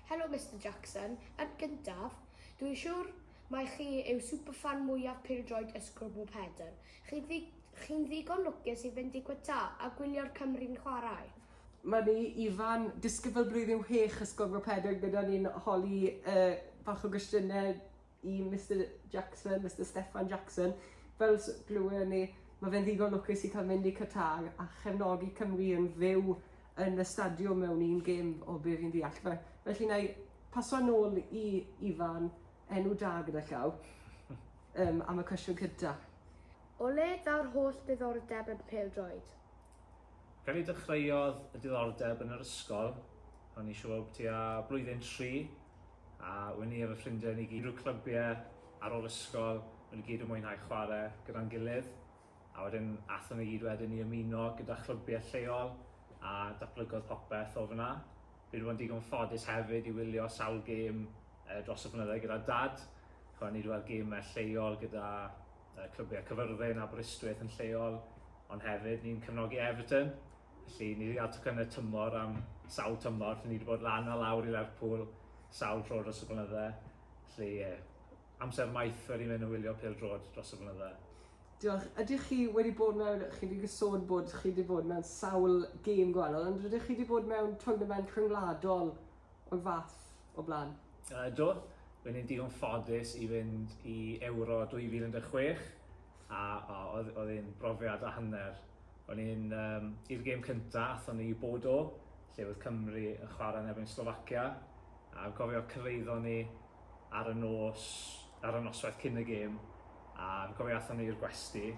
Helo Mister Jackson, yn gyntaf, dwi'n siwr mai chi yw superfan mwyaf pêl-droed y Sgrwbl Pedr. Chi'n ddi- chi'n ddigon lwcus i fynd i Qatar a gwylio'r Cymry'n chwarae. Mae ni, Ifan, disgybl blwyddyn chwech y Sgrwbl Pedr gyda ni'n holi yy bach o gwestiyne i Mister Jackson, Mister Steffan Jackson. Fel s- glywon ni, mae fe'n ddigon lwcus i cael mynd i Qatar a chefnogi Cymru yn fyw yn y stadiwm mewn un gêm o be fi'n ddeall. Fe- Felly na i paso nôl i Ifan, enw da gyda llaw, um, am y cwestiwn cynta. O le daw'r holl ddiddordeb yn pêl-droed? Pen i dechreuodd y diddordeb yn yr ysgol, o'n i siwb tua blwyddyn tri, a wen i a fy ffrindiau ni gyd rhyw clybiau ar ôl ysgol, o'n i gyd yn mwynhau chwarae gyda'n gilydd, a wedyn athon ni gyd wedyn i ymuno gyda chlybiau lleol a datblygodd popeth o fan'na. Fi wedi bod yn digon ffodus hefyd i wylio sawl gêm dros y blynydde gyda Dad, chwarae ni wedi weld gemau lleol gyda y clybiau Cyfyrddin, Aberystwyth yn lleol, ond hefyd ni'n cefnogi Everton, felly ni 'di ga'l tocynne tymor am sawl tymor, felly ni 'di bod lan a lawr i Lerpwl sawl tro dros y blynydde, felly ie, amser maith wedi mynd yn wylio pêl-droed dros y blynydde. Diolch. Ydych chi wedi bod mewn, chi 'di sôn bod chi 'di bod mewn sawl gêm gwahanol, ond rydych chi 'di bod mewn twrnament rhyngwladol o'r fath? o blaen. Ydw, ro'n i'n digon ffodus i fynd i Ewro 2016 a oedd oedd e'n brofiad a hanner. Ro'n i'n um, i'r gêm cyntaf, athon ni i Bodo, lle oedd Cymru yn chwarae yn erbyn Slovacia, a cofio cyrraeddon ni ar y nos, ar y noswaith cyn y gêm, a fi'n cofio athon ni i'r gwesty,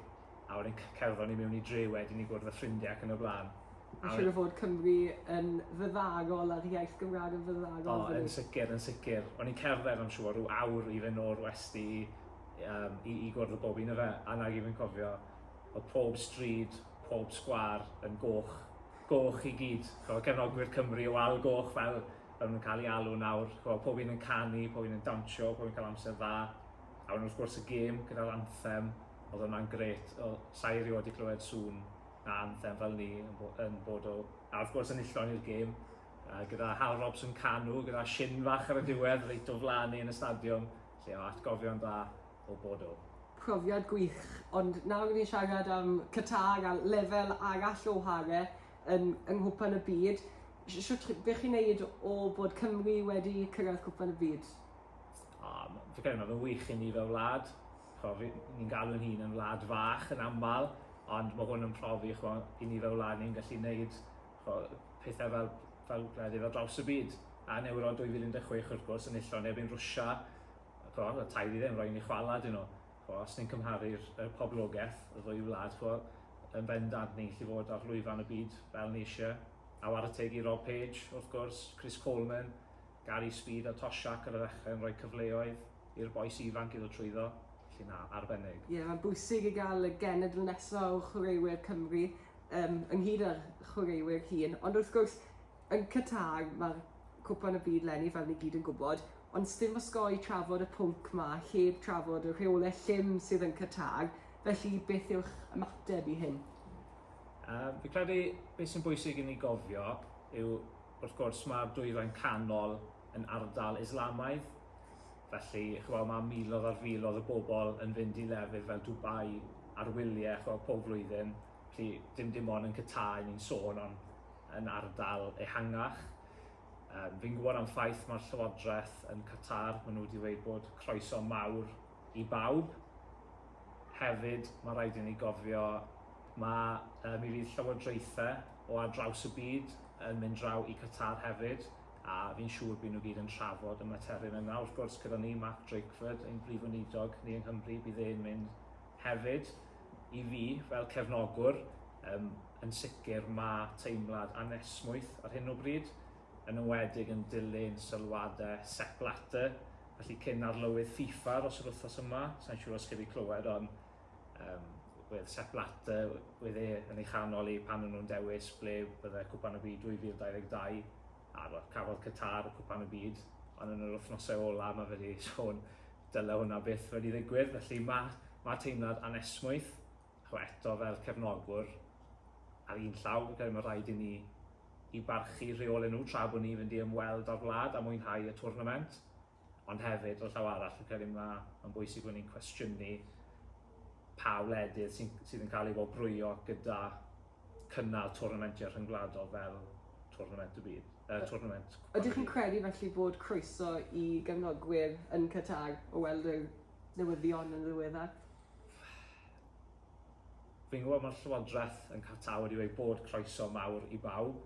a wedyn c- cerddon ni mewn i dre wedyn i gwrdd â ffrindie ac yn y blaen. A Mae'n siŵr o fod Cymru yn fyddagol a'r iaith Gymraeg yn fyddagol O, yn sicr, yn sicr. O'n i'n cerdded, I'm sure, rhyw awr i fynd o'r westy i, um, i, i gwrdd â bob un o fe. A nag i fi'n cofio, o pob stryd, pob sgwar yn goch. Goch i gyd. Ch'mo' cefnogwyr Cymru o Al Goch fel fel nhw'n cael ei alw nawr. Ch'mo' pob un yn canu, pob un yn dawnsio, pob un cael amser dda. A wedyn wrth gwrs y gêm gyda'r anthem, oedd hwnna'n gret, sa'i erioed wedi clywed sŵn na anthem fel ni yn bod o. A wrth gwrs enillon ni'r gêm, gyda Hal Robson yn canu, gyda shin fach ar y diwedd, reit o flan ni yn y stadiwm, lle o atgofion da o bod o. Profiad gwych, ond nawr i ni'n siarad am Qatar a lefel arall o whare yn yng Nghwpan y Byd, shwt be chi'n neud o bod Cymru wedi cyrraedd Cwpan y Byd? O, fi'n credu mae fe'n wych i ni fel wlad, ch'mo' fi, ni'n galw ein hun yn wlad fach yn aml, ond mae hwn yn profi ch'mo' i ni fel wlad ni'n gallu neud ch'mo' pethau fel fel gwledydd ar draws y byd. A yn Ewro 2016 wrth gwrs enillodd neb ein Rwsia, ch'mo' y tair i ddim, ro'n ni chwala 'dyn nhw. Ch'mo' os ni'n cymharu'r y poblogaeth y ddwy wlad ch'mo' yn bendant ni'n gallu fod ar lwyfan y byd fel ni isie. A ware teg i Rob Page wrth gwrs, Chris Coleman, Gary Speed a Tosh Shack ar y ddechrau yn rhoi cyfleoedd i'r bois ifanc iddo trwyddo, felly na, arbennig. Ie, mae'n bwysig i gael y genedl nesaf o chwaraewyr Cymru, yym, ynghyd â'r chwaraewyr hŷn. Ond wrth gwrs, yn Qatar, mae'r Cwpan y Byd 'leni, fel ni gyd yn gwybod, ond sdim osgoi trafod y pwnc 'ma heb trafod y rheolau llym sydd yn Qatar, felly beth yw'ch ymateb i hyn? Yy, fi credu beth sy'n bwysig i ni gofio yw Wrth gwrs, mae'r Dwyrain Canol yn ardal Islamaidd, felly ch'wel, mae miloedd ar filoedd o bobl yn fynd i lefydd fel Dubai ar wyliau ch'wel pob flwyddyn, felly dim dim ond yn Qatar 'yn ni'n sôn ond yn ardal ehangach. Yym fi'n gwybod am ffaith mae'r Llywodraeth yn Qatar, maen nhw wedi dweud bod croeso mawr I bawb. Hefyd, mae'n rhaid i ni gofio, mae, yy, mi fydd llywodraethau o ar draws y byd yn mynd draw i Qatar hefyd, a fi'n siŵr bydd nhw gyd yn trafod y materion yna. Wrth gwrs, gyda ni, Mark Drakeford, ein Prif Weinidog ni yng Nghymru, bydd e'n mynd hefyd. I fi, fel cefnogwr, yym, yn sicr mae teimlad anesmwyth ar hyn o bryd. yn enwedig yn dilyn sylwadau Sepp Blatter, felly cyn arlywydd FIFA dros yr wythnos yma, sa'n siŵr os chi wedi clywed ond um, wedd Sepp Blatter, wedd e yn ei chanol i pan nhw'n dewis ble bydde Cwpan y Byd 2022 a roedd cafodd Qatar y Cwpan y Byd, ond yn yr wythnosau ola mae fe wedi sôn dyle hwnna byth wedi ddigwydd, felly mae, mae teimlad anesmwyth Ac eto, fel cefnogwr, ar un llaw, fi'n credu mae rhaid i ni i barchu rheolau nhw tra bod ni'n fynd i ymweld â'r wlad a mwynhau y twrnament. Ond hefyd, o'r llaw arall, fi'n credu mae, mae'n bwysig bod ni'n cwestiynu pa wledydd sy'n, sydd yn cael ei wobrwyo gyda cynnal twrnamentiau rhyngwladol fel Twrnament y Byd, uh, Twrnament Cwpan y Byd. Ydych chi'n credu felly bod croeso i gefnogwyr yn Qatar o weld yr newyddion yn ddiweddar? Fi'n gwybod mae'r Llywodraeth yn cael wedi ei bod croeso mawr i bawb.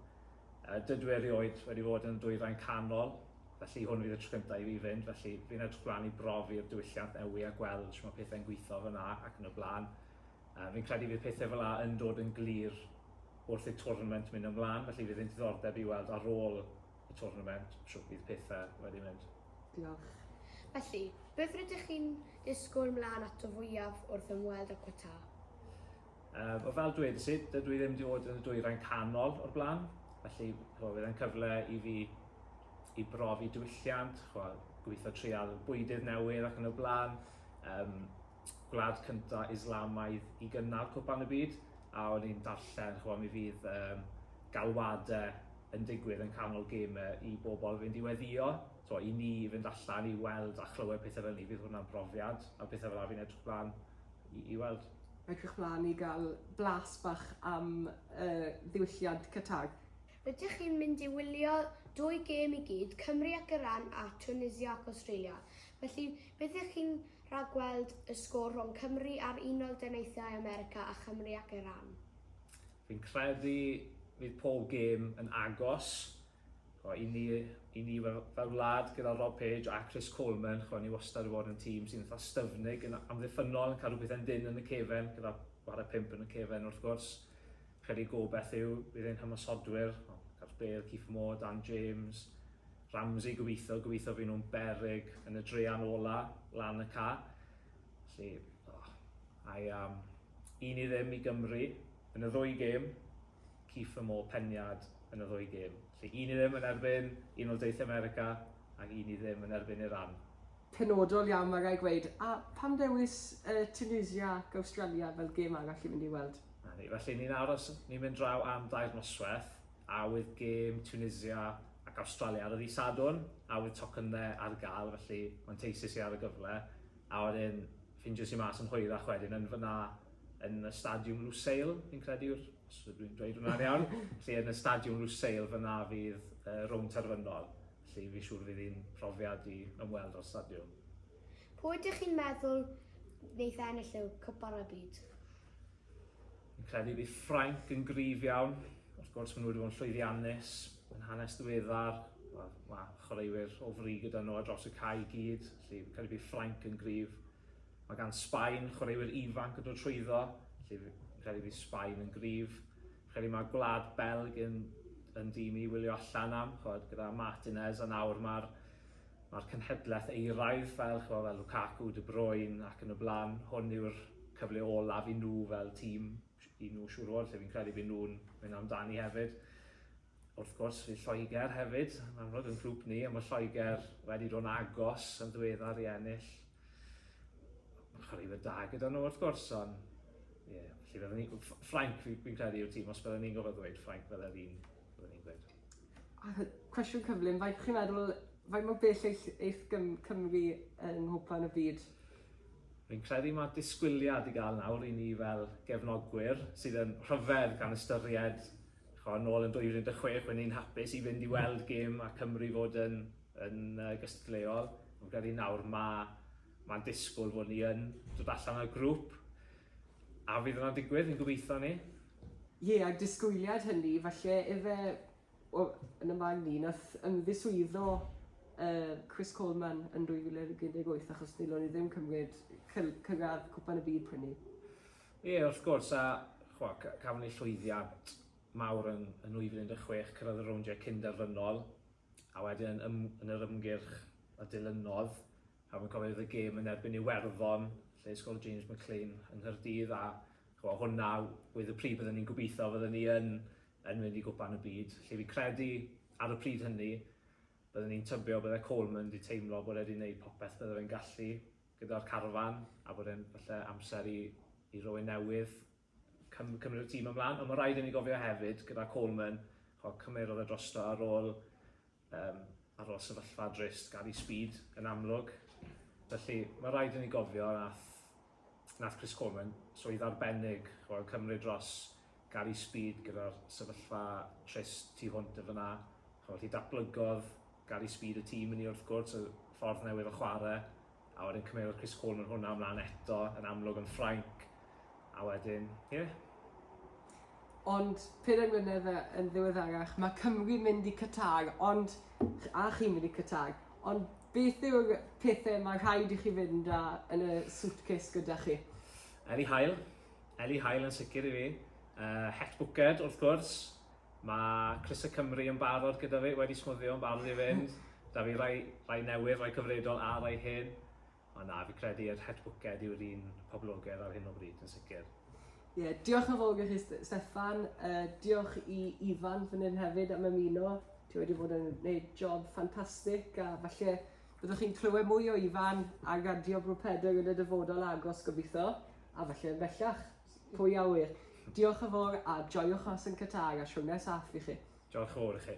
Uh, dydw erioed wedi bod yn y dwyrain canol, felly hwn fydd y tro cyntaf i fi fynd, felly fi'n edrych blaen i brofi'r diwylliant newi a gweld sy'n mae pethau'n gweithio fyna ac yn y blaen. Uh, fi'n credu fydd pethau fel la yn dod yn glir wrth y tournament mynd ymlaen, felly fydd yn diddordeb i weld ar ôl y twrnament, shwt bydd petha wedi mynd. Diolch. Felly, beth rydych chi'n disgwyl mlaen ato fwyaf wrth ymweld â Qatar? Yym, wel fel dwedes i, dydw i ddim wedi bod yn y dwyrain canol o'r blaen, felly ch'mo' bydd e'n cyfle i fi i brofi diwylliant, ch'mo' gobitho treial bwydydd newydd ac yn y blaen, yym gwlad cynta Islamaidd i gynnal Cwpan y Byd, a o'n i'n darllen, ch'mo', mi fydd yym galwade yn digwydd yn canol geme i bobl fynd i weddio, t'mo', i ni i fynd allan i weld a chlywed pethe fel 'ny, bydd hwnna'n brofiad, a pethe fel 'na fi'n edrych mlan i i weld. Edrych mlan i ga'l blas bach am y ddiwylliant Qatag. Rydych chi'n mynd i wylio dwy gêm i gyd, Cymru ac Iran a Tunisia ac Awstralia. Felly, beth ydych chi'n rhagweld y sgôr rhwng Cymru a'r Unol Daleithiau America a Chymru ac Iran? Fi'n credu fydd pob gêm yn agos. Ch'mo' i ni i ni fel fel wlad gyda Rob Page a Chris Coleman ch'mo' ni wastad 'di bod yn tîm sy'n itha styfnig yn amddiffynnol yn cadw pethe'n dynn yn y cefen gyda chware pump yn y cefen wrth gwrs. Credu y gobaith yw bydd ein hymosodwyr, o, Gareth Bale, Kieffer Moore, Dan James, Ramsey, gobeithio, gobeithio fy nhw'n beryg yn y drean ola lan y ca. Felly, o, I am un i ddim i Gymru yn y ddwy gêm, Kieffer Moore peniad yn y ddwy gêm. Felly un i ddim yn erbyn Unol Deithiau America ac un i ddim yn erbyn Iran. penodol iawn mae rhaid gweud. A pam ddewis yy Tunisia ac Awstralia fel gêm arall i fynd i weld? 'Na ni, felly ni'n aros, ni'n mynd draw am dair noswaith, a oedd gêm Tunisia ac Awstralia ar y ddydd Sadwrn, a oedd tocynne ar gael, felly manteisis i ar y gyfle, a wedyn ffindios i mas yn hwyrach wedyn yn fan'na yn y Stadiwm Lusail fi'n credu yw'r, os ydw i'n dweud hwnna'n iawn, felly yn y Stadiwm Lusail fan'na fydd y rownd terfynol. Felly fi'n siŵr fydd hi'n profiad i ymweld â'r stadiwm. Pwy ydych chi'n meddwl wneith ennill y Cwpan y Byd? Fi'n credu bydd Ffrainc yn gryf iawn. Wrth gwrs, maen nhw wedi bod yn llwyddiannus yn hanes ddiweddar. Wel, mae chwaraewyr o fri gyda nhw ar draws y cae i gyd, felly fi'n credu bydd Ffrainc yn gryf. Mae gan Sbaen chwaraewyr ifanc yn dod trwyddo, felly fi'n credu bydd Sbaen yn gryf. Fi'n credu mae Gwlad Belg yn, yn dîm i wylio allan am, chwod, gyda Martinez, a nawr mae'r mae'r cynhedlaeth euraidd fel, chwod, fel Lukaku, De Bruyne ac yn y blaen. Hwn yw'r cyfle olaf i nhw fel tîm, i nhw siŵr o fod, lle fi'n credu bydd nhw'n mynd amdani hefyd. Wrth gwrs, fydd Lloegr hefyd yn amlwg yn grŵp ni, a mae Lloegr wedi dod yn agos yn ddiweddar i ennill. Mae'n chwaraewyr da gyda nhw, wrth gwrs, ond... Ie, felly byddwn ni... Ffrainc, fi'n credu, yw'r tîm, os byddwn ni'n gofod ddweud, Ffrainc fydde'r un byddwn ni'n gweud. Cwestiwn cyflym, faint chi'n meddwl, faint mor bell eith, eith gym, Cymru yng Nghwpan y Byd? Fi'n credu mae disgwyliad i gael nawr i ni fel gefnogwyr sydd yn rhyfedd gan ystyried Chwa, nôl yn 2016, o'n i'n hapus i fynd i weld gêm a Cymru fod yn, yn uh, gystadleuol. Ond gyda nawr mae mae'n disgwyl fod ni yn dod allan o'r grŵp. A fydd yna'n digwydd, yn gobeithio ni. Ie, yeah, a disgwyliad hynny, falle efe o, yn y man ni, nath ymddiswyddo uh, Chris Coleman yn 2018 achos nilon ni ddim cymryd cyngad Cwpan y Byd prynnu. Ie, wrth gwrs, a chwa, ca, cafon ni llwyddiant mawr yn, yn 2016, cyrraedd y rowndiau cyn-derfynol, a wedyn yn, ym, yn yr ymgyrch a dilynodd, a fi'n cofio oedd y gêm yn erbyn Iwerddon, lle i sgol James McClean yng Nghaerdydd, a chwa, hwnna oedd y pryd bydden ni'n gobeithio fydden ni yn, yn mynd i gwpan y byd, lle fi'n credu, ar y pryd hynny, bydden ni'n tybio bydde Coleman wedi teimlo bod e wedi gwneud popeth bydde fe'n gallu, Gyda'r carfan a bod e'n falle amser i i rywun newydd cym- cymryd y tîm ymlan. Ond mae'n rhaid i ni gofio hefyd, gyda Coleman, chimod, cymerodd e drosto ar ôl um, ar ôl sefyllfa drist, Gary Speed yn amlwg. Felly mae'n rhaid i ni gofio nath, nath Chris Coleman swydd arbennig, chimod, cymryd dros Gary Speed gyda'r sefyllfa trist tu hwnt yn fan'na. Ch'mo' felly datblygodd Gary Speed y tîm inni wrth gwrs, y ffordd newydd o chware, a wedyn cymerodd Chris Coleman hwnna ymlan eto, yn amlwg yn Ffrainc, a wedyn, ie. Ond pedair mlynedd yn ddiweddarach ma' Cymru'n mynd i Qatar ond a chi'n mynd i Qatar ond beth yw'r pethe ma' rhaid i chi fynd â yn y suitcase gyda chi? Eli Hail. Eli Hael yn sicr i fi. Uh, het Bwced, wrth gwrs. Mae Cris y Cymru yn barod gyda fi, wedi smwddio yn barod i fynd. Da fi rai, rai newydd, rai cyfredol a rai hyn. Ond na, fi credu yr het Bwced yw'r un poblogedd ar hyn o bryd yn sicr. Ie, yeah, diolch yn fawr i chi, Steffan. Uh, diolch i Ifan fan hyn hefyd am ymuno. Ti wedi bod yn gwneud job ffantastig a falle Byddwch chi'n clywed mwy o Ifan a Gardio Bro Pedr yn y dyfodol agos gobeithio, a falle yn bellach. Pwy a ŵyr. Diolch yn fawr a joiwch mas yn Qatar a siwrne saff i chi. Diolch yn fawr i chi.